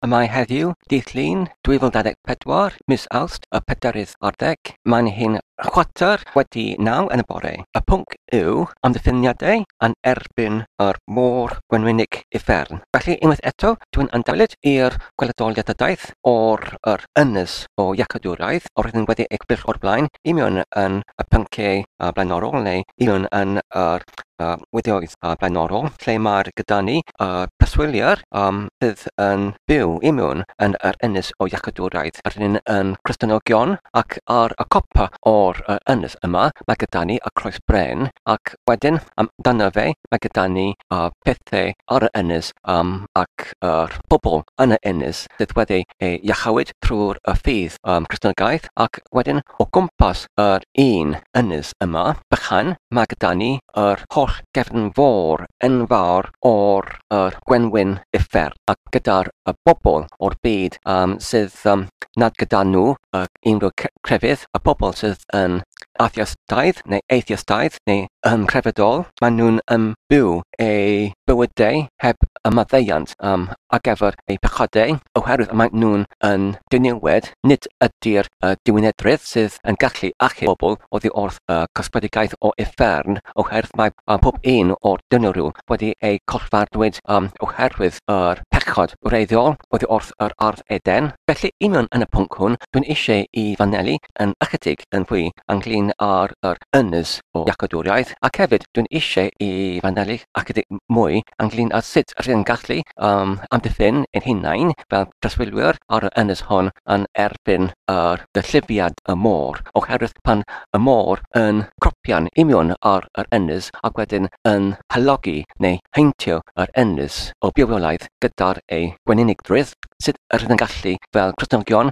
Y mae heddiw, dydd Llun, 2024, mis Awst, y pedarydd ar ddeg. Mae'n hyn chwarter wedi naw yn y bore. Y pwnc yw amddiffyniadau yn erbyn yr môr gwenwynig uffern. Felly, unwaith eto, dwi'n ymddangyd i'r gweledoliadadaeth o'r yr ynys o Iacadwraeth a roeddwn wedi ei gybyrch o'r blaen i mewn yn y pynciau blaenorol neu i mewn yn yr a wideos a blaenorol lle mae'r gyda ni y preswyliwr um, sydd yn byw i mewn yn yr ynys o iachydwraeth yr hyn yn Cristnogion ac ar y copa o'r uh, ynys yma mae gyda ni y croes bren ac wedyn um, dan y fe mae gyda ni uh, pethau ar y ynys um, ac yr uh, bobl yn y ynys sydd wedi ei iachawyd trwy'r y ffydd um, Cristnogaeth ac wedyn O gwmpas yr un ynys yma, bychan, mae gyda ni yr holl gefn fôr enfawr o'r yr gwenwyn uffern, ac gyda'r y bobl o'r byd yym sydd yym nad gyda nhw y unrhyw c- crefydd, y pobl sydd yn atheistaidd neu atheistaidd neu yn crefyddol, maen nhw'n yym byw eu bywydau heb y maddeuant yym ar gyfer eu pechodau, oherwydd maen nhw'n yn diniwed, nid ydy'r y diwinedrwydd sydd yn gallu achub pobl oddi wrth y cosbedigaeth o uffern, oherwydd mae pob un o'r dynwryw wedi eu collfarddwyd oherwydd yr pechod wreiddiol oddi wrth yr ardd Eden. Felly, union yn y pwnc hwn, dwi'n eisiau i fanelu yn ychydig yn fwy ynglŷn â'r yr ynys o iacodwriaeth, ac hefyd dwi'n eisiau i fanelu ychydig mwy ynglŷn â sut rydyn ni'n gallu um, amddiffyn ein hunain fel preswylwyr ar y ynys hon yn erbyn yr gyllifiad y môr, oherwydd pan y môr yn cropian imiwn ar yr ynys ac wedyn yn halogi neu heintio yr ynys o biofiolaeth gyda'r ei gwenynigdrwydd, sut rydyn yn gallu fel Cristnogion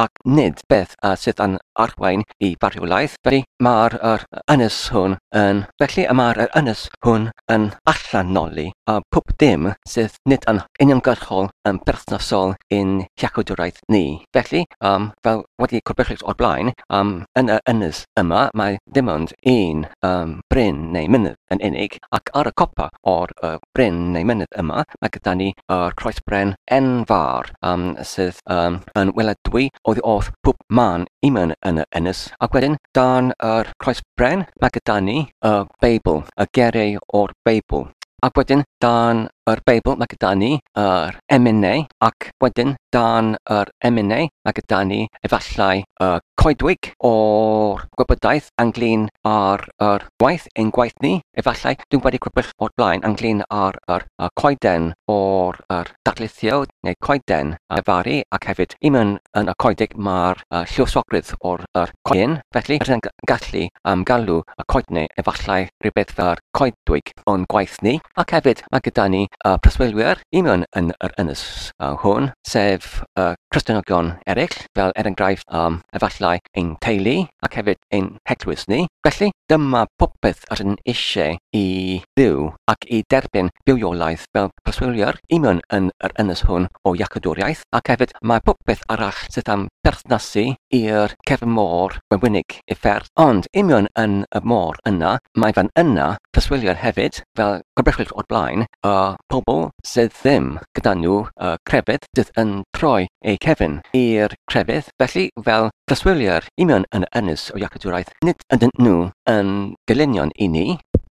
ac nid beth a sydd yn arwain i farwolaeth, felly mae'r yr ynys hwn yn, felly y mae'r yr ynys hwn yn allanoli a pwb dim sydd nid yn uniongyrchol yn berthnasol i'n hiachawdwraeth ni. Felly, um, fel wedi corbechus o'r blaen, um, yn yr ynys yma mae dim ond un um, bryn neu mynydd yn unig, ac ar y copa o'r uh, bryn neu mynydd yma mae gyda ni yr croesbren enfawr, um, sydd um, yn weladwy oddi wrth pwb man iman yn y ynys. Ac wedyn, dan yr croes bren, mae gyda ni y Beibl, y gereu o'r Beibl. Ac wedyn, dan yr Beibl, mae gyda ni yr emynau, ac wedyn, dan yr emynau, mae gyda ni efallai y coedwig o'r gwybodaeth ynglyn â'r yr Gwaith ein gwaith ni, efallai, dwi wedi crybwyll o'r blaen ynglyn â'r yr, y coeden o'r yr darlithio neu coeden a faru ac hefyd un yn, yn y coedig mae'r uh, lluosogrydd o'r yr coedyn, felly rydyn yn gallu um, galw y coedne efallai rhywbeth fel coedwig o'n gwaith ni ac hefyd mae gyda ni uh, preswylwyr un yn, yn yr ynys uh, hwn sef uh, Cristnogion eraill fel er enghraifft am efallai ein teulu ac hefyd ein heglwys ni. Felly, dyma popeth r'yn eisiau i Dduw ac i derbyn bywiolaeth fel preswylwyr i mewn yn yr ynys hwn o Iacadwriaeth ac hefyd mae popeth arall sydd am berthnasu i'r cefn môr wenwynig i'r fferm ond i mewn yn y môr yna mae fan yna preswylwyr hefyd, fel gwybodwch o'r blaen, y pobl sydd ddim gyda nhw y crefydd sydd yn troi eu cefn i'r crefydd, felly fel preswylwyr union yn yr ynys o Iacadwraeth, nid ydyn nhw yn gelynion i ni,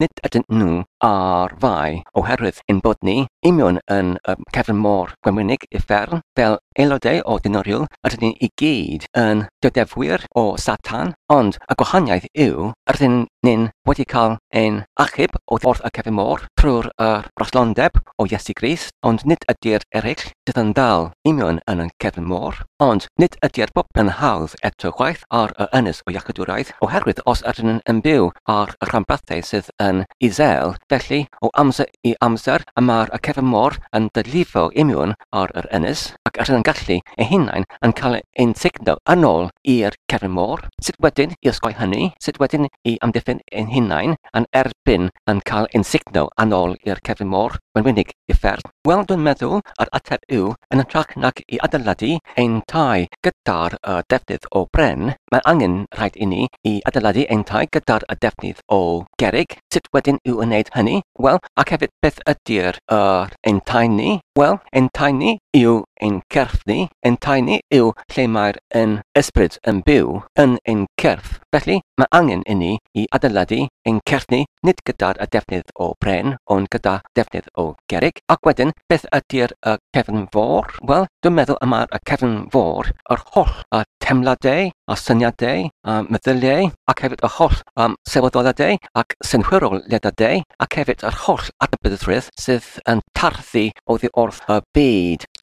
nid ydyn nhw ar fai, oherwydd ein bod ni union yn y cefn mor wenwynig uffern, fel Aelodau o Dynoriw ydyn ni i gyd yn dydefwyr o Satan, ond y gwahaniaeth yw rydyn ni'n wedi cael ein achub oddi wrth y cefn môr trwy'r yr broslondeb o Iesu Grist, ond nid ydy'r ereill sydd yn dal i mewn yn y cefn môr, ond nid ydy'r bobl yn hawdd eto chwaith ar y ynys o iachydwraeth, oherwydd os ydyn ni'n byw ar y rhanbarthau sydd yn isel, felly o amser i amser y mae'r acerfau môr yn dylifo i mewn ar yr ynys ac yr hyn gallu ei hunain yn cael ein sugno yn ôl i'r cefn môr. Sut wedyn i osgoi hynny? Sut wedyn i amddiffyn ein hunain yn erbyn yn cael ein sugno yn ôl i'r cefn môr? Mae'n wenig gyfferth. Wel, dwi'n meddwl yr ateb yw, yn hytrach nag i adeiladu ein tai gyda'r y defnydd o bren, mae angen, rhaid inni, i adeiladu ein tai gyda'r y defnydd o gerrig. Sut wedyn i'w wneud hynny? Wel, ac hefyd beth ydy'r y ein tai ni? Wel, ein tai ni yw ein cyrff ni, ein tai ni yw lle mae'r yn ysbryd yn byw yn ein cyrff, felly mae angen inni i adeiladu ein cyrff ni nid gyda'r y defnydd o bren, ond gyda defnydd o gerrig. Ac wedyn, beth ydy'r y cefn fôr? Wel, dwi'n meddwl y mae'r y cefn fôr, yr holl y teimladau, a syniadau, a meddyliau, ac hefyd yr holl um, sylweddoliadau ac synhwyroliadadau, ac hefyd yr holl adnabyddrwydd sydd yn tarddu oddi wrth y byd.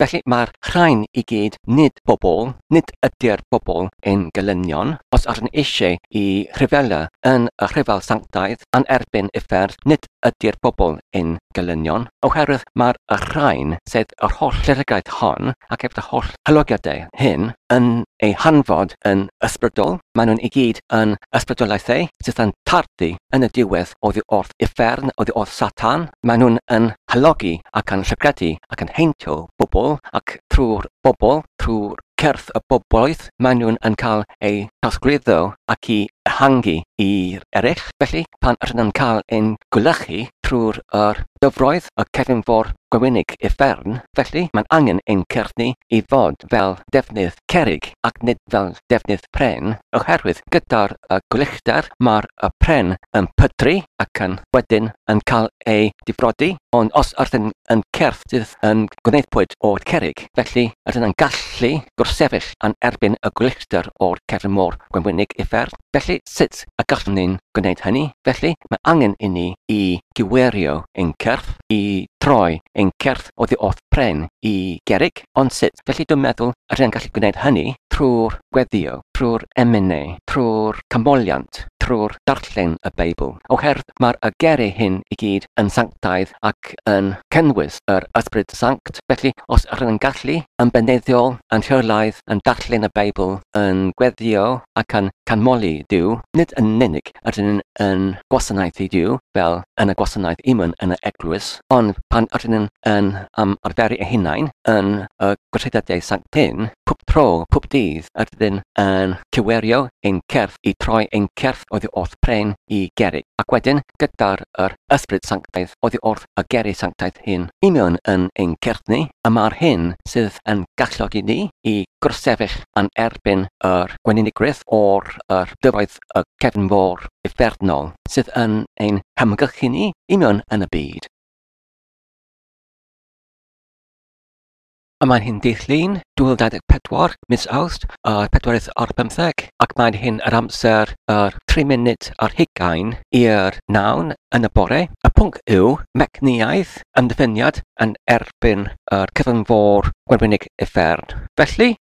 Felly, mae'r rhain i gyd nid bobl, nid ydy'r bobl yn gelynion, os arn eisiau i rhyfela yn y rhyfel sanctaidd a'n erbyn uffern, nid ydy'r bobl yn gelynion, oherwydd mae'r rhain, sef yr holl glerigaeth hon, ac hefyd y holl hylogiadau hyn, yn eu hanfod yn ysbrydol, maen nhw'n i gyd yn ysbrydolaethau sydd yn tardu yn y diwedd oddi wrth uffern, oddi wrth Satan, maen nhw'n yn halogi ac yn llygredi ac yn heintio pobl ac trwy'r bobl, trwy'r cyrff y bobloedd maen nhw'n yn cael eu trosglwyddo ac i ehangu i'r eraill. Felly, pan ydyn nhw'n cael ein gwlychu trwy'r yr dyfroedd y cefn for gwynig i fferm, felly mae'n angen ein cyrff ni i fod fel defnydd cerrig ac nid fel defnydd pren oherwydd gyda'r gwyllter mae'r pren yn pydru ac yn wedyn yn cael ei difrodi ond os ydyn yn cyrff sydd yn gwneudpwyd o cerrig felly ydyn yn gallu gwrthsefyll yn erbyn y gwyllter o'r cefn môr gwenwynig uffern felly sut y gallwn ni'n gwneud hynny felly mae angen i ni i gywerio ein cyrff i droi ein cyrff oddi wrth pren i gerrig Ond sut? Felly dwi'n meddwl yr hyn gallu gwneud hynny, trwy'r gweddïo, trwy'r emynu, trwy'r canmoliant, trwy'r darllen y Beibl, oherwydd mae'r y geri hyn i gyd yn sanctaidd ac yn cynnwys yr Ysbryd Sanct, felly os yr yn gallu, yn beneiddiol, yn rheolaidd, yn darllen y Beibl, yn gweddïo ac yn canmoli Duw, nid yn unig ydyn nhw'n yn gwasanaethu Duw, fel yn y gwasanaeth imwn yn y eglwys, ond pan ydyn nhw'n yn ymarferu eu hunain yn y gweithredoedd sanctaidd, pob tro, pob dydd, ydyn yn cywerio ein cyrff i troi ein cyrff oddi wrth pren i gerrig, ac wedyn, gyda'r yr Ysbryd Sanctaidd, oddi wrth y gerrig sanctaidd hyn. Imwn yn ein cyrff ni, y mae'r hyn sydd yn galluogi ni i grossefyll yn erbyn yr gweninigrwydd o'r yr dyfroedd y cefnfor uffernol sydd yn ein hamgylchu ni i mewn yn y byd. A mae'n hyn dydd Llun, 2024, mis Awst, y pedwerydd o'r bymtheg, ac mae'n hyn yr amser yr tri munud ar hugain i'r nawn yn y bore. Y pwnc yw mecniaeth ymddiffyniad yn erbyn yr cyfynfor gwenwynig uffern. Felly,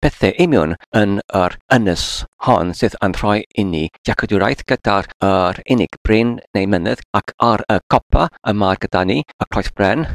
Pethau union yn yr ynys hon sydd yn rhoi inni dealltwriaeth gyda'r yr unig bryn neu mynydd ac ar y copa y mae gyda ni y croes bren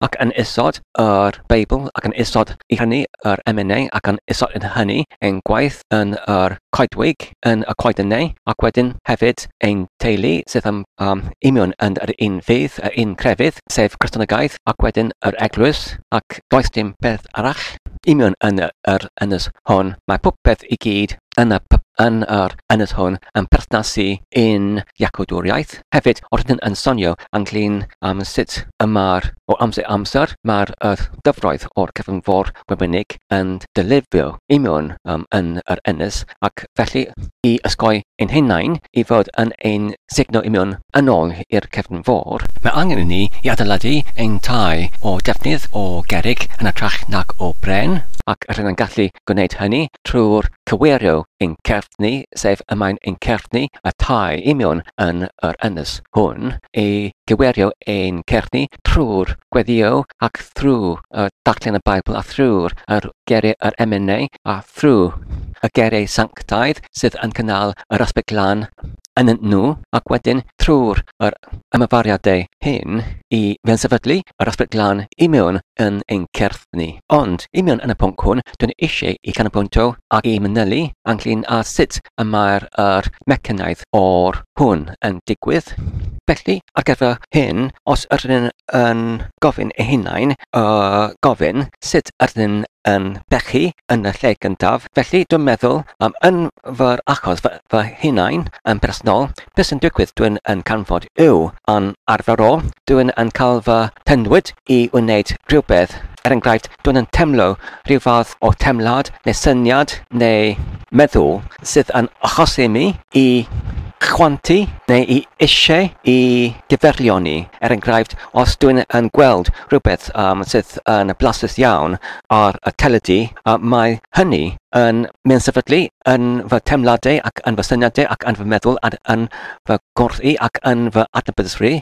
ac yn isod yr Beibl ac yn isod i hynny yr emynau ac yn isod yn hynny ein gwaith yn yr coedwig yn y coeden neu, ac wedyn hefyd ein teulu sydd yn um, imiwn yn yr un ffydd, yr un crefydd, sef Cristnogaeth, ac wedyn yr eglwys, ac does dim peth arall imiwn yn yr ynys hwn. Mae popeth i gyd yn, y, yn yr ynys hwn yn perthnasu i'n iacodwriaeth, Hefyd, roeddwn yn sonio ynglŷn â sut y mae'r, o amser i amser, mae'r yr dyfroedd o'r cyfynfor Wibrenig yn dylifio i mewn um, yn yr ynys, ac felly i ysgoi ein hunain i fod yn ein sugno i mewn yn ôl i'r cefnfor, mae angen i ni i adeiladu ein tai o defnydd o gerrig yn ytrach nag o bren, ac rydym yn gallu gwneud hynny trwy'r cyfeirio yn Certni, sef y mae'n yn Certni y tai i mewn yn yr ynys hwn, y cyfeirio yn Certni trwy'r gweddïo ac thrwy y darllen y Beibl a thrwy'r yr geriau yr emynau a thrwy y geriau sanctaidd sydd yn cynnal yr ysbryd glân yn y nhw ac wedyn trwy'r yr ymafariadau hyn i fensefydlu yr ysbryd glân i mewn yn ein cerdd ni. Ond, i mewn yn y pwnc hwn, dwi'n eisiau i canolbwyntio ac i manylu ynglyn â sut y mae'r yr mecanaidd o'r hwn yn digwydd. Felly, ar gyfer hyn, os yr yn yn gofyn ei hunain, y gofyn sut yr yn yn pechu yn y lle gyntaf, felly dwi'n meddwl am yn fy achos fy fy hunain yn bersonol, beth sy'n digwydd, dwi'n yn canfod yw, yn arferol, dwi'n yn cael fy nhynnwyd i wneud rhywbeth, er enghraifft, dwi'n yn teimlo rhyw fath o teimlad neu syniad neu meddwl sydd yn achosi mi i chwantu neu i eisiau i gyfeirioni, er enghraifft, os dwi'n yn gweld rhywbeth sydd yn blasus iawn, ar y teledu, a mae hynny yn yn sefydlu yn fy teimladau ac yn fy syniadau ac yn fy meddwl ac yn fy ngwrth i ac yn fy adnabyddusrwy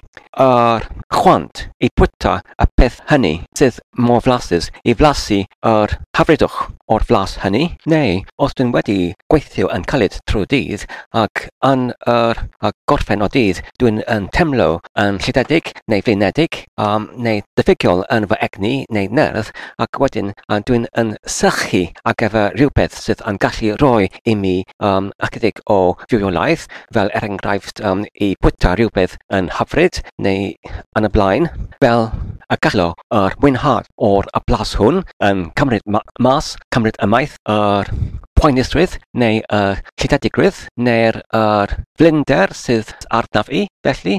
yr chwant i fwyta y peth hynny sydd mor flasus i flasu yr hyfrydwch o'r flas hynny, neu os dwi'n wedi gweithio yn caled trwy'r dydd ac yn yr gorffen o dydd dwi'n yn teimlo yn llithedig neu flinedig, um, neu diffygiol yn fy egni neu nerth, ac wedyn uh, dwi'n yn sychu ar gyfer rhywbeth sydd yn gallu rhoi i mi um, ychydig o fywiolaeth, fel er enghraifft um, i bwyta rhywbeth yn hyfryd neu yn y blaen, fel y gallo yr mwynhad o'r y blas hwn yn cymryd ma mas, cymryd ymaith yr poenusrwydd neu y llidedigrwydd, neu'r er blinder sydd arnaf i, felly,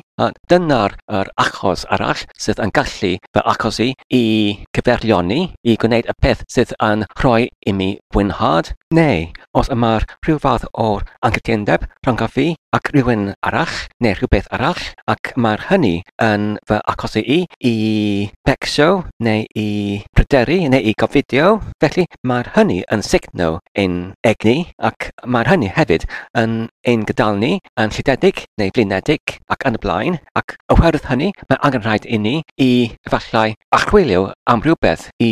dyna'r er achos arall sydd yn gallu fy achosi i gyfeirlioni i gwneud y peth sydd yn rhoi i mi fwynhad, neu os y mae'r rhyw fath o anghytundeb rhyngaf fi ac rywun arall, neu rhywbeth arall, ac mae'r hynny yn fy achosi i i fecsio, neu i bryderu, neu i gofidio, felly, mae'r hynny yn sugno ein egni ac Mae hynny hefyd yn ein gydol ni yn llidiedig neu flinedig ac yn y blaen, ac oherwydd hynny mae angen rhaid inni i efallai archwilio am rywbeth i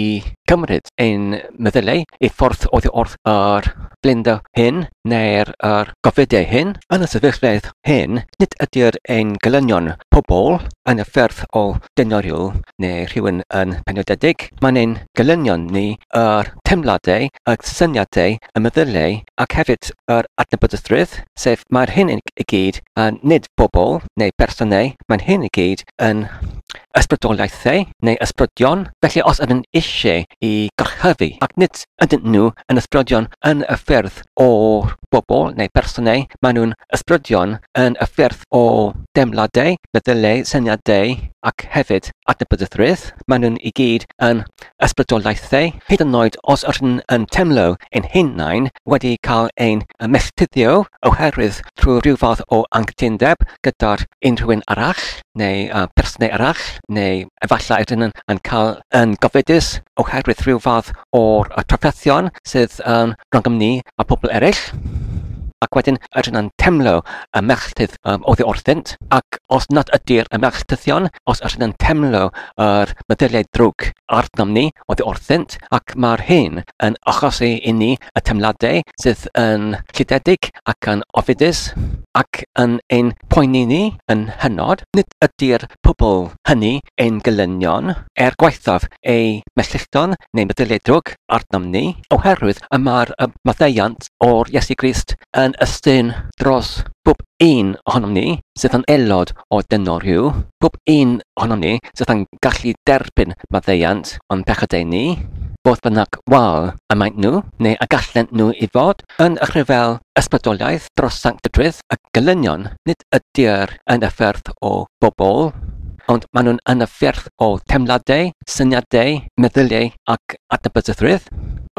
gymryd ein meddyliau i ffwrdd oddi wrth yr flinder hyn neu'r yr gofidiau hyn. Yn y sefyllfeydd hyn, nid ydyr ein gelynion pobl yn y ffyrdd o denorio neu rhywun yn penodedig, mae'n ein gelynion ni, yr teimladau, y syniadau y meddyliau ac hefyd yr adnabyddusrwydd, sef mae'r hyn i gyd, a nid bobl neu bersonau, mae'n hyn i gyd yn ysbrydoliaethau neu ysbrydion, felly os ydyn eisiau i gorchuddu ac nid ydyn nhw yn ysbrydion yn y ffyrdd o bobl neu bersonau, maen nhw'n ysbrydion yn y ffyrdd o deimladau, meddyliau, syniadau ac hefyd adnabyddusrwydd, maen nhw'n i gyd yn ysbrydoliaethau, hyd yn oed os rŷn yn teimlo ein hunain wedi cael ein melltithio oherwydd trwy ryw fath o anghytundeb gyda unrhywun arall neu berson arall, neu efallai rŷn yn cael yn gofidus oherwydd rhyw fath o'r trafferthion sydd rhyngom ni a phobl eraill. Ac wedyn rŷn yn teimlo y melltith um, oddi wrthynt, ac os nad ydy'r ymell tythion, os ydyn yn temlo yr meddyliau drwg arnom ni oddi wrthynt, ac mae'r hyn yn achosi i ni y temladau sydd yn llidedig ac yn ofidus, ac yn ein poeni ni yn hynod, nid ydy'r pobl hynny ein gelynion, er gwaethaf eu melltillton neu meddyliau drwg arnom ni, oherwydd y mae'r maddeuant o'r Iesu Grist yn ystyn dros bob un ohonom ni sydd yn aelod o Deno Rhyw, bob un ohonom ni sydd yn gallu derbyn maddeuant o'n pechadau ni, fodd bynnag wal y maent nhw, neu y gallent nhw i fod, yn y rhyfel ysbrydoliaeth dros sanctydrwydd y gelynion, nid ydyr yn y ffyrdd o bobl, ond maen nhw'n yn y ffyrdd o teimladau, syniadau, meddyliau, ac adnabyddusrwydd,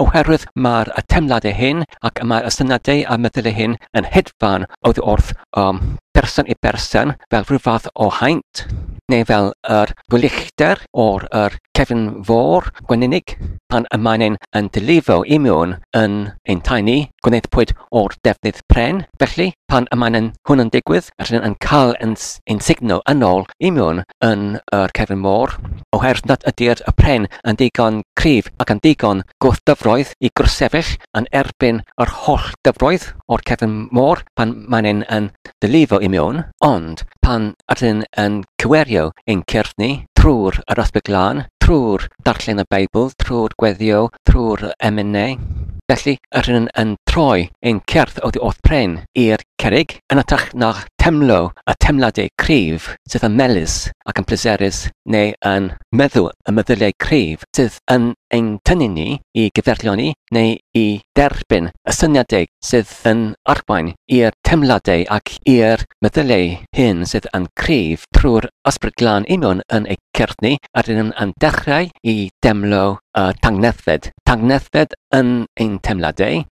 oherwydd mae'r teimladau hyn ac mae'r ysyniadau a meddyliau hyn yn hedfan oddi wrth um, person i berson fel rhyw fath o haint, neu fel yr gwyllter o'r yr cefn fôr gweninig pan y mae'n ein yn dilifo i mewn yn ein tai ni, gwnaethpwyd o'r defnydd pren, felly, pan y mae'n hwn yn digwydd, rydyn yn cael yn yn sugno yn ôl i mewn yn yr cefn môr, oherwydd nad ydy'r pren yn ddigon cryf ac yn ddigon gwrthdyfroedd i gwrthsefyll yn erbyn yr holl dyfroedd o'r cefn môr pan mae'n ein yn dylifo i mewn, ond pan ydyn yn cywerio ein cyrff ni, trwy'r yr ysbryd glân, trwy'r darllen y Beibl, trwy'r gweddio, trwy'r emynau. Felly, ydyn yn troi ein cyrff oddi wrth pren i'r cerrig, yn hytrach na'ch teimlo y teimladau cryf sydd yn melys ac yn pleserus neu yn meddu y meddyliau cryf sydd yn ein tynnu ni i gyferlioni neu i dderbyn y syniadau sydd yn arwain i'r teimladau ac i'r meddyliau hyn sydd yn cryf trwy'r ysbryd glân union yn eu cyrff ni a rydym yn dechrau i deimlo y tangnefedd, tangnefedd yn ein teimladau,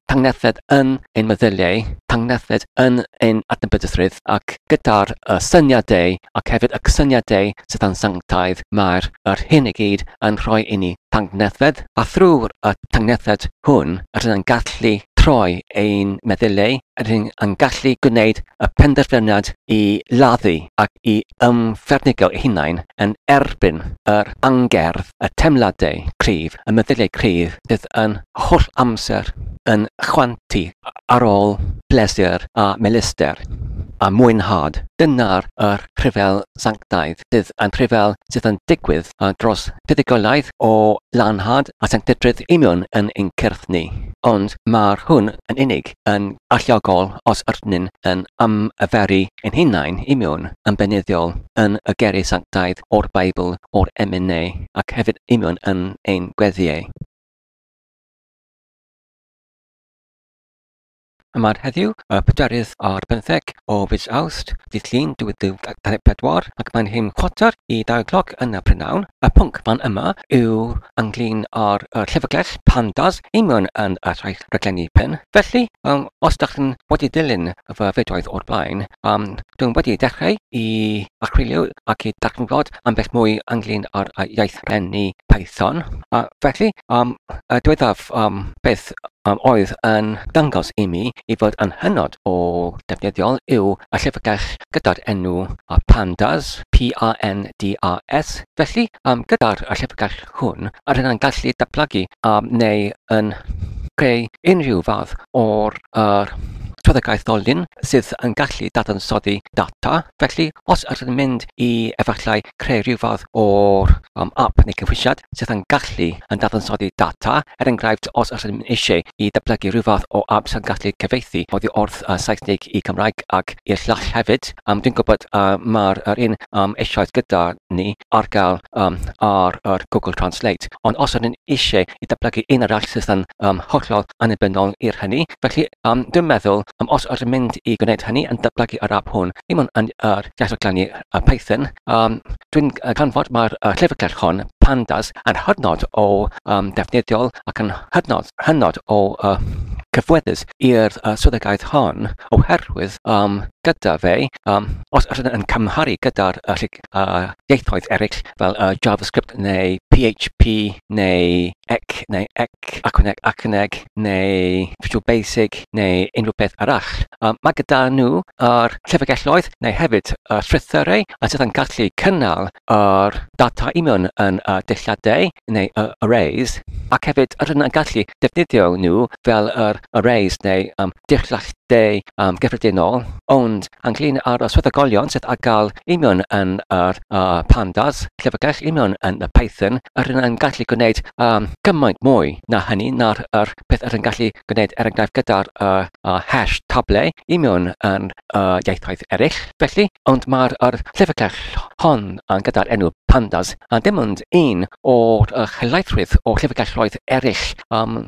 tangnefedd yn ein meddyliau, tangnefedd yn ein adnabyddusrwydd ac gyda'r uh, syniadau ac hefyd y cysyniadau sydd yn sanctaidd mae'r yr hyn i gyd yn rhoi i ni tangnefedd a thrwy'r y tangnefedd hwn rydyn yn gallu troi ein meddyliau, rydyn yn gallu gwneud y penderfyniad i laddu ac i ymfernigio eu hunain yn erbyn yr angerdd, y teimladau cryf, y meddyliau cryf sydd yn holl amser yn chwantu ar ôl pleser a melister a mwynhad. Dyna'r yr rhyfel sanctaidd sydd yn rhyfel sydd yn digwydd dros fuddugoliaeth o lanhad a sanctydrwydd union yn ein cyrff ni. Ond mae'r hwn yn unig. yn allgogol os ydyn yn ymarferu ein hunain i mewn yn beunyddiol yn y geiriau sanctaidd o'r Beibl o'r emyn neu ac hefyd i mewn yn ein gweddïau. Yma'r heddiw, y pedwerydd ar bymtheg o fis Awst, dydd Llun 2024, ac mae'n hyn chwarter i dau cloc yn y prynawn. Y pwnc fan yma yw ynglyn â'r llyfrgell Pandas i mewn yn y rhai rhaglenni pen. Felly, os dach chi'n wedi dilyn fy fideoedd o'r blaen, dwi'n wedi dechrau i archwilio ac i darganfod ambell mwy ynglyn â'r iaith rhenni Python. Felly, y diweddaf beth oedd yn dangos i mi i fod yn hynod o ddefnyddiol yw y llyfrgell gyda'r enw Pandas, P-A-N-D-A-S. Felly, gyda'r llyfrgell hwn a ryddhau'n gallu datblygu am neu yn creu unrhyw fath o'r yr trafodaeth ddolen sydd yn gallu dadansoddi data. Felly, os ydych chi'n mynd i efallai creu rhyw fath o'r um, app neu cynhwysiad sydd yn gallu yn dadansoddi data, er enghraifft, os ydych chi'n eisiau i datblygu rhyw fath o app sy'n gallu cyfeithi oddi wrth uh, Saesneg i Cymraeg ac i'r llall hefyd, Yym, dwi'n gwybod yy mae'r yr un yym eisoes gyda ni ar gael yym ar yr Google Translate, ond os ydyn ni isie i datblygu un arall sydd yn yym hollol annibynnol i'r hynny, felly yym dwi'n meddwl yym os ydyn mynd i gwneud hynny yn datblygu yr ap hwn, dim ond yn yr iaith o glynu yy Python, Yym dwi'n yy canfod mae'r yy llyfrgell hon, Pandas, yn hynod o yym ddefnyddiol ac yn hynod hynod o yy cyffoethus i'r yy swyddogaeth hon oherwydd yym gyda fe yym os os ydyn yn cymharu gyda'r yy llyg- yy ieithoedd eraill fel yy JavaScript neu PHP neu ec neu ec, acwneg, acwneg, neu Visual Basic neu unrhyw beth arall. Um, mae gyda nhw yr llyfrgelloedd neu hefyd y strwythurau a sydd yn gallu cynnal yr data i mewn yn y dulliadau neu y arrays ac hefyd yr yn gallu defnyddio nhw fel yr Arrays neu am Dirchglas Dei yn gyffredinol, ond ynglŷn â'r swyddogion sydd â gael union yn yr Pandas, llyfrgell union yn y Python, yr un yn gallu gwneud cymaint mwy na hynny na'r peth yr un gallu gwneud er enghraifft gyda'r hash table union yn y ieithoedd eraill. Felly, ond mae'r llyfrgell hon gyda'r enw Pandas yn dim ond un o'r helaethrwydd o llyfrgelloedd eraill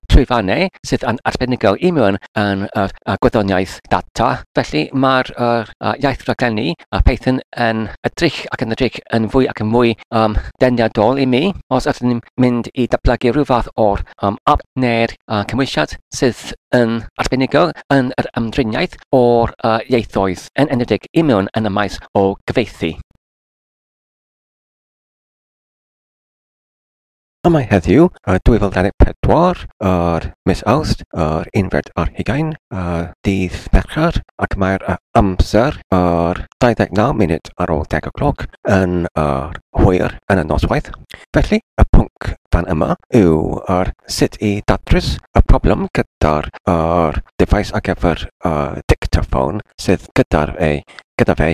llwyfannau sydd yn arbenigol i mewn yn yr gwyddoniaeth data. Felly mae'r iaith raglenni a Python yn edrych ac yn edrych yn fwy ac yn fwy um, deniadol i mi os ydym ni'n mynd i datblygu rhyw fath o'r um, app neu'r uh, cymwysiad sydd yn arbenigol yn yr ymdriniaeth o'r uh, ieithoedd yn enedig i mewn yn y maes o gyfeithi. A mae heddiw, 2024, yr mis Awst, yr unfed ar hugain, y dydd Mercher, ac mae'r amser, yr 29 munud ar ôl deg o gloc, yn yr hwyr yn y noswaith. Felly, y pwnc dan yma yw yr sut i datrys y problem gyda'r yr defaes ar gyfer y dictaphone sydd gyda'r ei gyda fe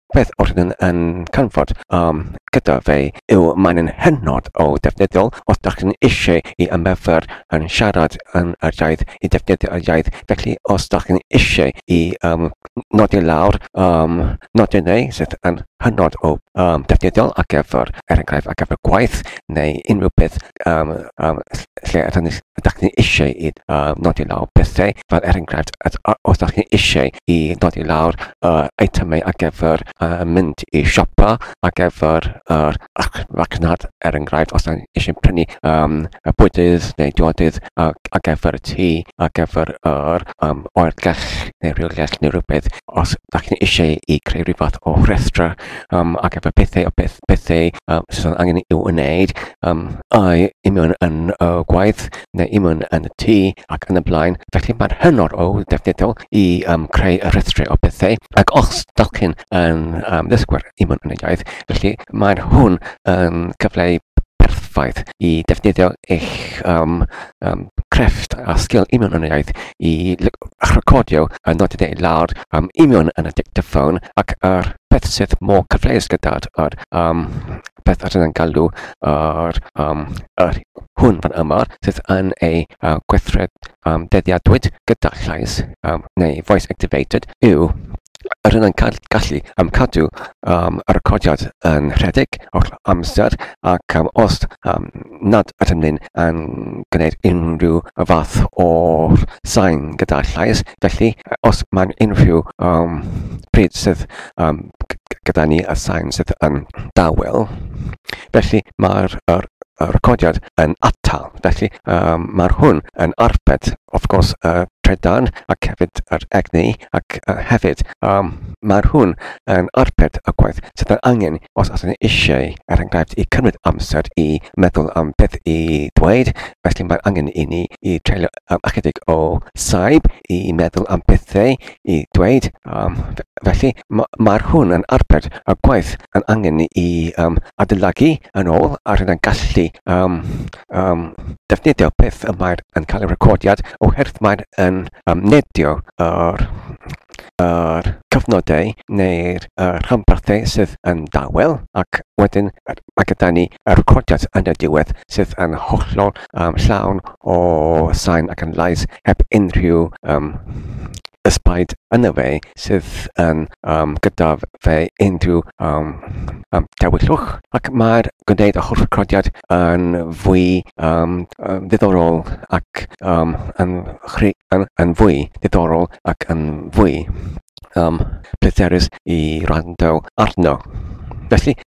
Beth oedd yn yn canfod um, gyda fe yw mae'n yn hynod o defnyddiol os da chi'n eisiau i ymyfyr yn siarad yn yr iaith, i defnyddio y iaith. Felly os da chi'n eisiau i um, nodi lawr um, nodi neu sydd yn hynod o um, defnyddiol ar gyfer, er enghraifft, ar gyfer gwaith neu unrhyw beth um, um, lle ydych ni, ydych ni eisiau i uh, nodi lawr pethau, fel er enghraifft, os ydych chi eisiau i nodi lawr uh, eitemau ar gyfer uh, mynd i siopa, ar gyfer yr uh, racnad, er enghraifft, os ydych chi eisiau prynu um, y bwydydd neu diodydd uh, ar gyfer y tŷ, ar gyfer yr um, oergell neu rhywgell neu rhywbeth, os ydych chi eisiau i creu rhywbeth o rhestra um, ac efo pethau, peth, pethau uh, sydd angen i'w wneud, um, ai i mewn yn y uh, gwaith neu i mewn yn y tŷ ac yn y blaen. Felly mae'n hynod o ddefnyddiol i um, creu y rhestrau o pethau. Ac os dach chi'n um, ddysgwyr i mewn yn y iaith, felly mae'n hwn yn cyfleu perffaith i defnyddio eich um, um, crefft a sgil union yn y iaith i recordio a nodi deu lawr um, union yn y dictaphone ac ar peth sydd mor cyfleus gyda'r ar, um, peth ar yn galw ar, um, ar hwn fan yma sydd yn ei uh, gweithred um, deddiadwyd gyda llais um, neu voice activated yw Yr hyn yn cael gallu am cadw um, y recordiad yn rhedeg o'r amser ac um, os um, nad ydym ni'n yn gwneud unrhyw fath o sain gyda llais, felly os mae'n unrhyw um, pryd sydd um, gyda ni y sain sydd yn dawel, felly mae'r er, y recordiad yn atal. Felly um, mae'r hwn yn arbed, of gwrs, y uh, trydan ac hefyd yr egni ac yy hefyd yym ma'r hwn yn arbed y gwaith sydd yn angen os os ni eisiau er enghraifft i cymryd amser i meddwl am beth i ddweud felly mae angen i ni i treulio yym ychydig o saib i meddwl am bethau i ddweud yym f- felly ma' ma'r hwn yn arbed y gwaith yn angen i yym adeiladu yn ôl ar hyn a'n gallu yym um, defnyddio beth y mae'r yn cael ei recordiad oherwydd mae'n yn um, nedio yr yr cyfnodau neu'r uh, rhanbarthau sydd yn dawel ac wedyn mae gyda ni y recordiad yn y diwedd sydd yn hollol um, llawn o sain ac yn lais heb unrhyw um, ysbaid yna fe sydd yn um, gyda fe unrhyw um, um, dewiswch ac mae'r gwneud y holl recordiad yn fwy um, um, ddiddorol ac um, yn, chri, yn, yn fwy ddiddorol ac yn fwy um, pleserus i rando arno. Felly,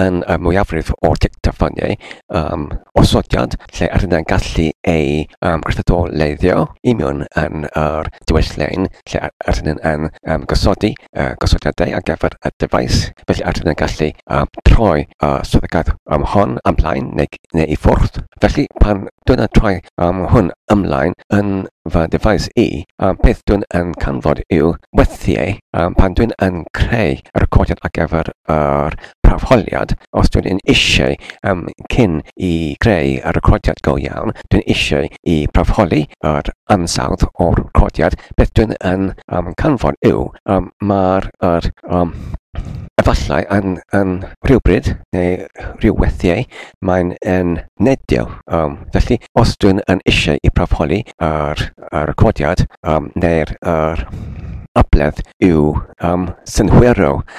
yn y mwyafrif o'r dictafoniau um, osodiad lle ar yna'n gallu ei um, gweithredoleiddio i mewn yn yr diwylliau'n lle ar yna'n yn um, gosodi uh, gosodiadau ar gyfer y dyfais. Felly ar yna'n gallu um, troi uh, soddigaeth um, hon ymlaen neu, neu i ffwrdd. Felly pan dwi'n yn troi um, hwn ymlaen yn fy dyfais i, um, beth dwi'n yn canfod yw wethiau um, pan dwi'n yn creu y recordiad ar gyfer yr arholiad, os dwi'n yn eisiau am cyn i greu y recordiad go iawn, dwi'n eisiau i arholi yr ansawdd o'r recordiad, beth dwi'n yn am canfod yw am mae'r yr um, efallai yn, yn rhywbryd neu rhyw weithiau mae'n yn nedio. Um, felly, os dwi'n yn eisiau i arholi yr, yr recordiad um, neu'r yr abledd yw um, synhwyro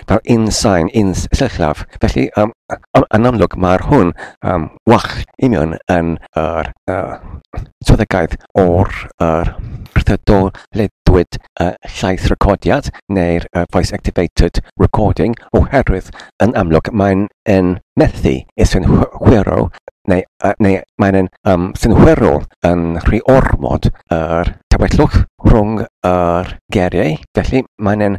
gyda'r un sain, un sillafu, felly yn amlwg mae'r hwn yn well union yn yr swyddogaeth o'r rhyddhadol ledwyd llaeth recordiad neu'r voice activated recording oherwydd yn amlwg mae'n yn methu i synhwyro neu, neu mae'n yn um, synhwyro yn rhy ormod yr tawellwch rhwng yr geriau, felly mae'n yn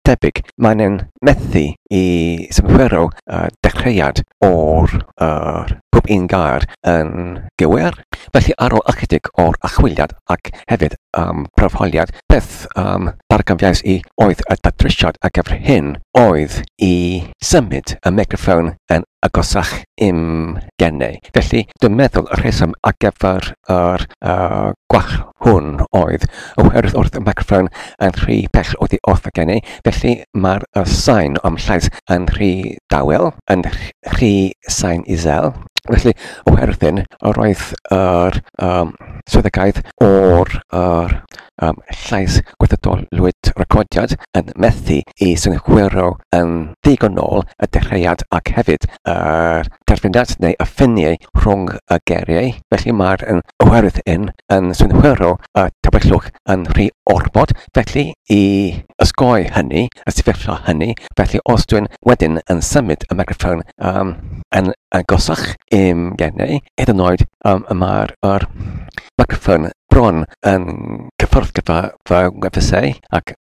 debyg. Maen nhw'n methu i symffurfio y dechreuad o'r yr pob un gair yn gywir. Felly ar ôl ychydig o'r archwiliad ac hefyd ym mhroffiliad, beth yym ddarganfuais i oedd y datrysiad ar gyfer hyn oedd i symud y meicroffon yn agosach i'm geni. Felly, dwi'n meddwl y rheswm ar gyfer yr uh, gwall hwn oedd oherwydd wrth y microffon yn rhy bell oddi wrth y geni, felly mae'r uh, sain o'm llais yn rhy dawel, yn rhy sain isel. Felly, oherwydd hyn, yr oedd yr um, swyddogaeth o'r uh, am llais gweithredol Lwyd Recordiad yn methu i synhwyro yn ddigonol y dechreuad ac hefyd yr derfyniad neu y ffiniau rhwng y geiriau, felly mae'r oherwydd hyn yn synhwyro y tywyllwch yn rhy ormod, felly i osgoi hynny, y sefyllfa hynny, felly os dwi'n wedyn yn symud y meicroffon um, yn agosach i'm gennau, hyd yn oed um, mae'r meicroffon bron yn cyffordd gyda fy ngwefusau ac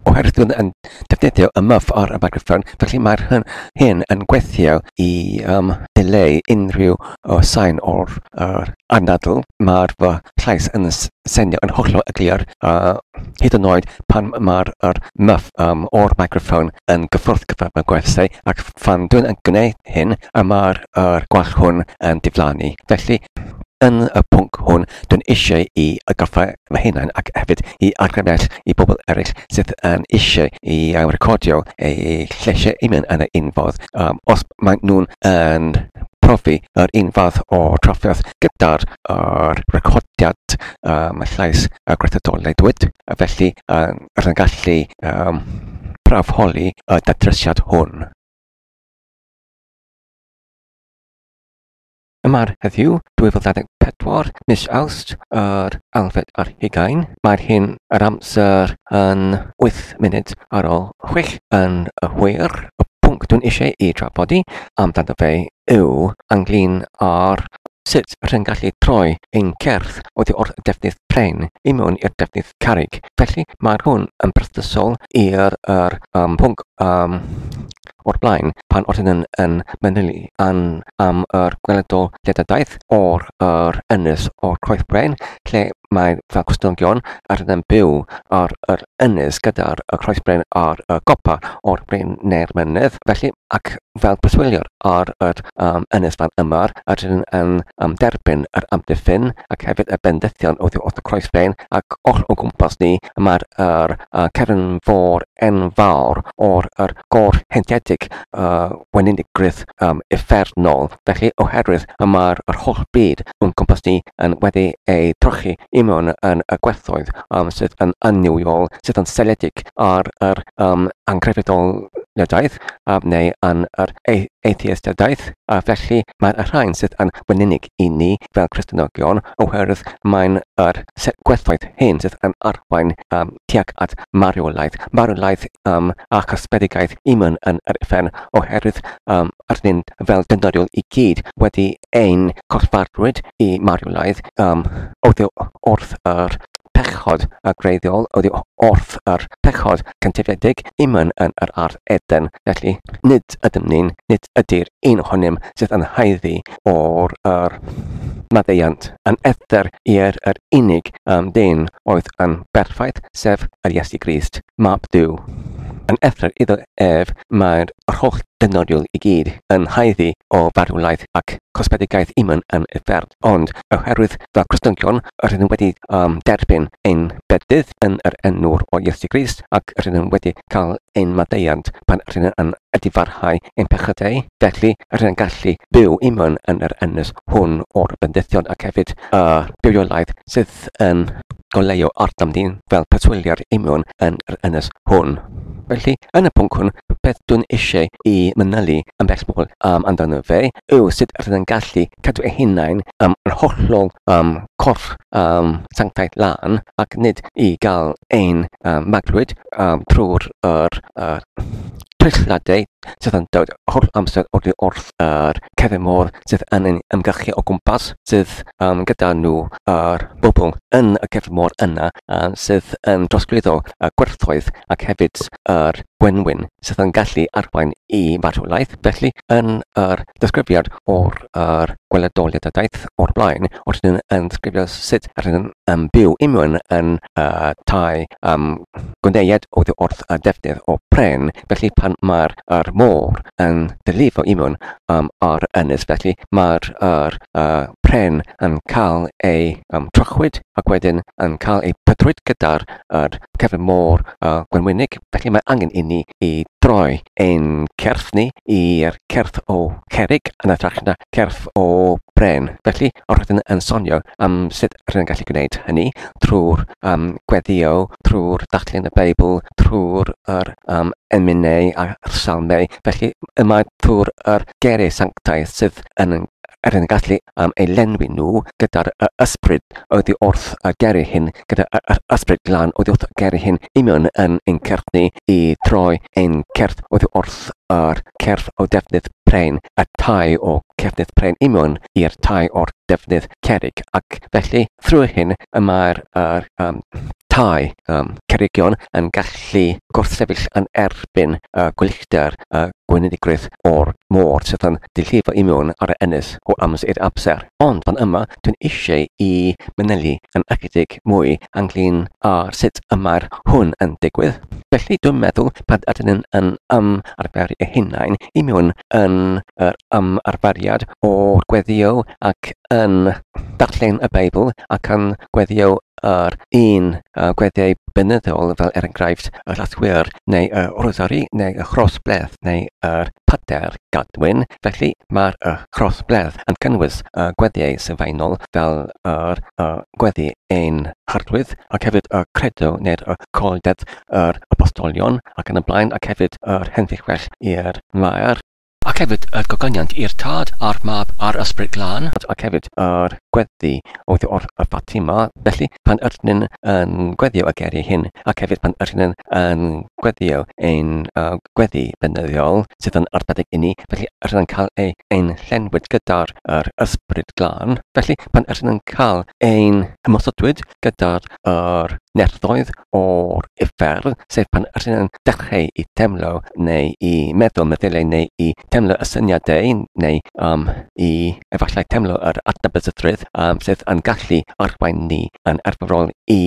oherwydd dwi'n yn defnyddio y muff o'r microphone, felly mae'r hyn, hyn yn gweithio i um, dileu unrhyw o sain o'r uh, anadl. Mae'r fy llais yn senio yn hollol y glir, uh, hyd yn oed pan mae'r er muff um, o'r microphone yn gyffwrdd gyda fy gwerthau, ac fan dwi'n yn gwneud hyn, y mae'r er gwall hwn yn diflannu. Felly, Yn y pwnc hwn, dw eisiau i atgoffa fy hunain ac hefyd i argraffiad i bobl eraill sydd yn eisiau i ailrecordio eu lleisiau hunain yn un ffordd os maen nhw'n yn profi yr un fath o drafferth gyda'r recordiad llais a gweithredoldwyd, felly rydyn yn gallu prawfholi y datrysiad hwn. Yma heddiw, 2024, mis Awst, yr Alfed ar hugain. Mae'r hyn yr amser yn 8 munud ar ôl 6 yn y hwyr. Y pwnc dwi'n eisiau i drafodi amdano fe yw ynglyn â'r sut rha'n gallu troi ein cerdd oddi wrth defnydd pren i mewn i'r defnydd carreg. Felly mae hwn yn berthnasol i'r er, um, pwnc um, o'r blaen pan oedd hyn yn manylu yn am yr gweledol ledadaeth o'r yr ynys o'r coeth brain lle mae fel cwstnogion ar yn byw ar yr ynys gyda'r y croes brain ar y gopa o'r brain neu'r mynydd felly ac fel preswyliwr ar yr um, ynys fan yma a rydyn yn um, derbyn yr amddiffyn ac hefyd y bendithion oddi wrth y croes brain ac oll o gwmpas ni mae'r er, y cefn fôr enfawr o'r yr goll heintiedig y weinigrwydd um, uffernol. Felly, oherwydd y mae'r yr holl byd o'n cwmpas ni yn wedi ei trochi i mewn yn y gwerthoedd um, sydd yn annuwiol, sydd yn seledig ar yr um, angrefydoliadaeth um, neu yn yr atheistadaeth, a felly mae'r rhain sydd yn weininig i ni fel Cristnogion oherwydd mae'n yr gwerthoedd hyn sydd yn arwain um, tuag at marwolaeth, marwolaeth um, a chysbedigaeth i mynd yn yr ufen oherwydd um, yr hyn fel dynoriol i gyd wedi ein corffarwyd i marwolaeth um, oedd wrth yr pechod a greiddiol oedd yw wrth yr pechod cyntifedig imyn yn yr ardd Eden. Felly, nid ydym ni'n, nid ydy'r un ohonym sydd yn haeddu o'r ar maddeuant yn ethr i'r yr unig am dyn oedd yn berffaith, sef yr Iesu Grist, Mab Duw. Yn ethr iddo ef mae'r yr holl dynodiol i gyd yn haeddu o farwlaeth ac cosbedigaeth imyn yn uffern, ond oherwydd fy Cristnogion rydym wedi am derbyn ein bedydd yn yr enwr o Iesu Grist ac rydym wedi cael ein maddeuant pan ry'n yn difarhau ein pechodau, felly ry'n yn gallu byw i mewn yn yr ynys hwn o'r bendithion ac hefyd y bywoliaeth sydd yn goleuo arnom ni fel preswyliad i mewn yn yr ynys hwn. Felly, yn y pwnc hwn, beth dwi'n eisiau i manylu yn bresmol um, amdano fe yw sut ry'n yn gallu cadw ei hunain um, yn hollol um, corff um, sanctaidd lan ac nid i gael ein maglwyd trwy'r trychiadau sydd yn dod holl amser oddi wrth yr cefn môr sydd yn ein ymgyrchu o gwmpas, sydd um, gyda nhw yr bobl yn y cefn môr yna uh, sydd yn drosglwyddo y gwerthoedd ac hefyd yr gwenwyn sydd yn gallu arwain i farwolaeth. Felly, yn yr disgrifiad o'r er gweledoliadaeth o'r blaen, wrth yn ddisgrifio sut rydyn yn byw i mewn yn y tai am gwneud oddi wrth y defnydd o bren, felly pan mae'r yr môr yn dylifo i mewn um, ar ynys, felly mae'r yr uh, pren yn cael ei um, trochwyd ac wedyn yn cael ei pydrwyd gyda'r yr cefn môr uh, gwenwynig, felly mae angen i ni i droi ein cerdd ni i'r cerdd o Cerrig yn hytrach na cerdd o Bren. Felly, roeddwn yn sonio am sut rydyn yn gallu gwneud hynny trwy'r um, gweddio, trwy'r darllen y Beibl, trwy'r er, um, emynau a'r salmau. Felly, yma trwy'r er gerau sanctaidd sydd yn er yn gallu am eu llenwi nhw gyda'r y ysbryd oddi wrth a geri hyn gyda y y ysbryd glân oddi wrth a geri hyn i mewn yn ein cerdd ni i troi ein cerdd oddi wrth a'r cerdd o defnydd pren y tai o cefnydd pren i mewn i'r tai o'r defnydd cerig ac felly thrwy hyn y mae'r yr, um, tai um, cerygion yn gallu gwrthsefyll yn erbyn y uh, gwyllter a uh, gweiniddigrwydd o'r môr sydd yn dy llif i mewn ar y ynys o amser i'r amser, ond fan yma dwi'n eisiau i manylu yn ychydig mwy ynglŷn â sut y mae'r hwn yn digwydd. Felly dwi'n meddwl pan ydyn ni yn ymarferu ein hunain i mewn yn yr ymarferiad o gweddïo ac yn darllen y Beibl ac yn gweddïo ar un a gweddiau benyddol fel er enghraifft yr athwyr neu y rosari neu y crossbledd neu yr pater gadwyn, felly mae'r y crossbledd yn cynnwys y gweddiau sylfaenol fel yr y gweddi ein harglwydd ac hefyd y credo neu'r y colded yr apostolion ac yn y blaen ac hefyd yr henfeillwell i'r maer. Ac hefyd yr gogoniant i'r Tad a'r Mab a'r Ysbryd Glân. Ac hefyd yr gweddi oedd wrth y Fatima, felly, pan yr nyn yn gweddio y geiriau hyn, ac hefyd pan yr nyn yn gweddio ein gweddi beunyddiol, sydd yn arbennig inni, felly yr nyn cael ei ein llenwyd gyda'r yr Ysbryd Glân, felly, pan yr nyn cael ein ymosodwyd, gydag yr neilltuoedd o'r uffern, sef pan rŷn yn dechreu i deimlo neu i meddwl meddyliau neu i deimlo y syniadau neu um, i efallai teimlo yr adnabyddrwydd um, sydd yn gallu arwain ni yn arferol i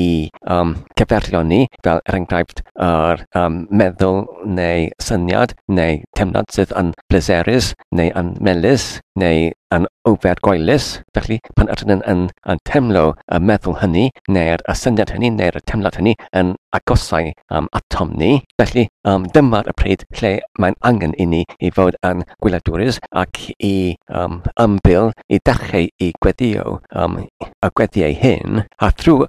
um, cyferio ni, fel er enghraifft yr um, meddwl neu syniad neu teimlad sydd yn bleserus neu yn melus neu yn ofergoelus. Felly, pan ydyn yn yn yn teimlo y meddwl hynny, neu'r y syniad hynny, neu'r y teimlad hynny yn agosau um, atom ni, felly um, dyma'r y pryd lle mae'n angen i ni i fod yn gwyladwrus ac i um, ymbil i dachau i gweddio um, y gweddiau hyn, a thrwy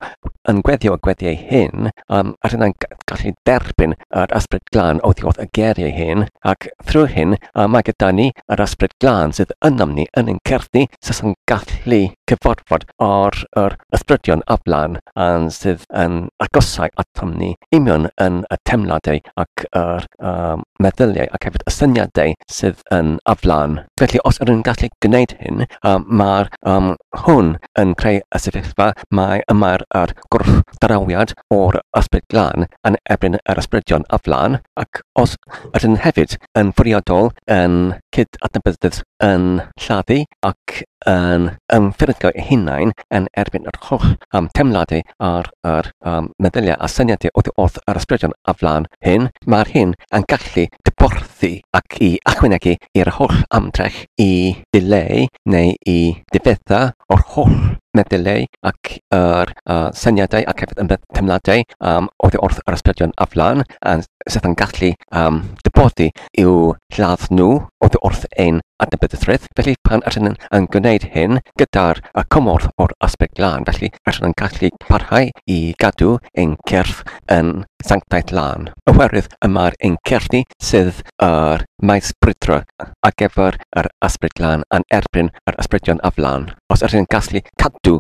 yn gweddio y gweddiau hyn, um, ydyn yn gallu derbyn yr Ysbryd Glân oddi wrth y geiriau hyn, ac thrwy hyn y mae gyda ni yr Ysbryd Glân sydd ynom ni yn ein cerddi sydd yn gallu cyfarfod ar yr ysbrydion a flan a'n sydd yn agosau atom ni union yn y teimladau ac yr um, meddyliau ac hefyd y syniadau sydd yn aflan. Felly os ydyn ni'n gallu gwneud hyn, um, mae'r um, hwn yn creu y sefyllfa mae y mae'r a'r gwrthdrawiad o'r ysbryd glân yn erbyn yr ysbrydion a flaen, ac os ydyn hefyd yn fwriadol yn cyd-adnabyddus yn lladdu ac yn ymffurfio eu hunain yn erbyn yr holl um, temladau a'r, ar um, meddyliau a syniadau oddi wrth yr ysbrydion a flaen hyn, mae'r hyn yn gallu dyborthu ac i achwynegu i'r holl amdrech i ddileu neu i ddifetha o'r holl meddyllau ac yr syniadau ac hefyd y teimladau yym oddi wrth yr ysbrydion aflan a sut mae'n gallu yym dy bod di i'w lladd nhw oddi wrth ein adnabyddusrwydd. Felly pan ydyn ni yn gwneud hyn gyda'r y cymorth o'r Ysbryd Glân felly ydyn ni'n gallu parhau i gadw ein cyrff yn sanctaidd lân oherwydd y mae'r ein cyrff ni sydd yr maes brwydro ar gyfer yr Ysbryd Glân yn erbyn yr ysbrydion ar flaen, os ydyn ni'n gallu cadw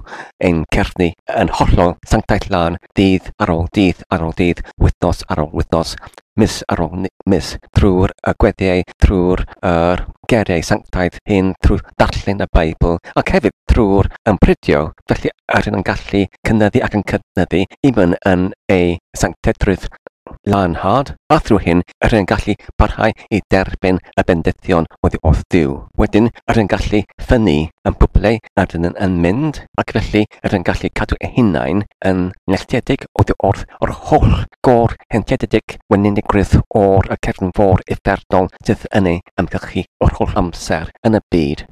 ein cerddi yn hollol sanctaidd lân, dydd ar ôl dydd ar ôl dydd, wythnos ar ôl wythnos, mis ar ôl mis, trwy'r y gweddiau, trwy'r yr geiriau sanctaidd hyn, trwy ddarllen y Beibl, ac hefyd trwy'r ympridio, felly ydyn yn gallu cynyddu ac yn cynyddu, even yn ei sanctedrwydd. Leonhard, a thrwy hyn yr yn gallu parhau i derbyn y bendithion oddi wrth Duw. Wedyn yr yn gallu ffynnu yn bwble a dynnu'n yn mynd, ac felly yr yn gallu cadw eu hunain yn nelltiedig oddi wrth yr holl gôr heintiedig weninigrwydd o'r y cefn fôr uffernol sydd yn ei ymgylchu yr holl amser yn y byd.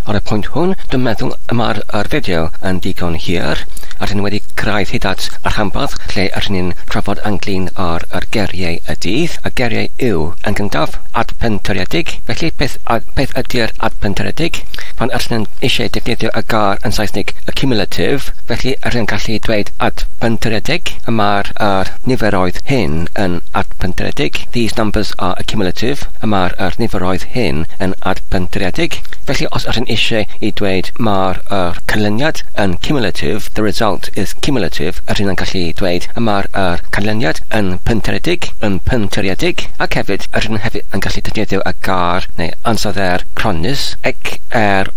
Ar y pwynt hwn, dwi'n meddwl y mae'r yr fideo yn ddigon hir, a rydyn ni wedi cyrraedd hyd at y rhanbarth lle rydyn ni'n trafod ynglŷn â'r yr geiriau y dydd, a geiriau yw, yn gyntaf, adpentyredig, felly beth a- beth ydy'r adpentyredig? Pan rydyn ni'n eisiau defnyddio y gair yn Saesneg accumulative, felly rydyn ni'n gallu dweud adpentyredig, y mae'r yr niferoedd hyn yn adpentyredig, these numbers are accumulative, y mae'r yr niferoedd hyn. hyn yn adpentredig, felly os ydyn eisiau i dweud mae'r yr canlyniad yn cumulative, the result is cumulative, ydyn yn gallu dweud y mae'r yr canlyniad yn pentredig, yn pentredig, ac hefyd ydyn hefyd yn gallu defnyddio y gair neu ansoddeir cronnus, x-r-o-n-n-u-s,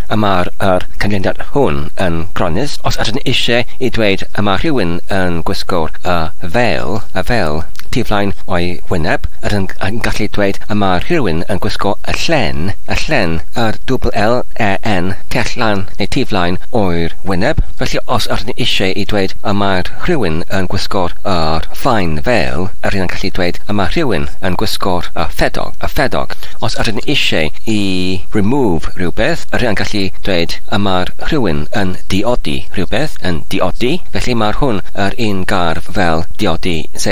y mae'r yr canlyniad hwn yn gronnus, os ydyn eisiau i dweud y mae rhywun yn gwisgo'r y fel, y fel, ti flaen yn o'i wyneb, yr un yn gallu dweud y mae rhywun yn gwisgo y llen, y llen, yr double LEN, tu allan neu tu flaen o'i'r wyneb, felly os yr ni eisiau i dweud y mae rhywun yn gwisgo'r yr faen fel, yr un yn gallu dweud y mae rhywun yn gwisgo'r y ffedog, y ffedog. Os yr ni eisiau i remove rhywbeth, yr un yn gallu dweud y mae rhywun yn diodi rhywbeth, yn diodi, felly mae hwn yr un gardd fel diodi Z.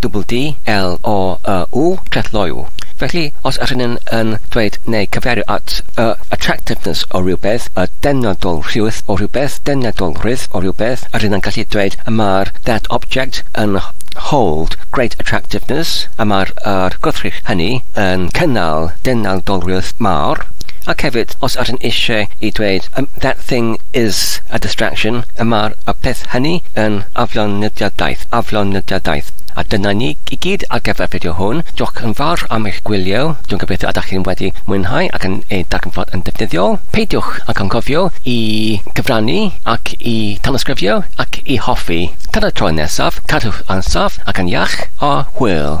double D, L, O, Y, W, clethleuo. Felly, os ydyn ni'n yn dweud neu cyfeirio at y attractiveness o rywbeth, y deniadolrwydd o rywbeth, deniadolrwydd o rywbeth, ydyn ni'n gallu dweud y mae'r that object yn hold great attractiveness, y mae'r yr gwrthrych hynny yn cynnal deniadolrwydd mawr, ac hefyd, os ydyn eisiau i dweud y that thing is a distraction, y mae'r y peth hynny yn aflon aflonydiadaeth, aflonydiadaeth. A dyna ni i gyd ar gyfer y fideo hwn. Diolch yn fawr am eich gwylio. Dwi'n gobeithio ydych chi'n wedi mwynhau ac yn ei darganfod yn ddefnyddiol. Peidiwch ag anghofio i gyfrannu ac i tanysgrifio ac i hoffi. Tan y tro nesaf, cadwch yn saff ac yn iach, a hwyl!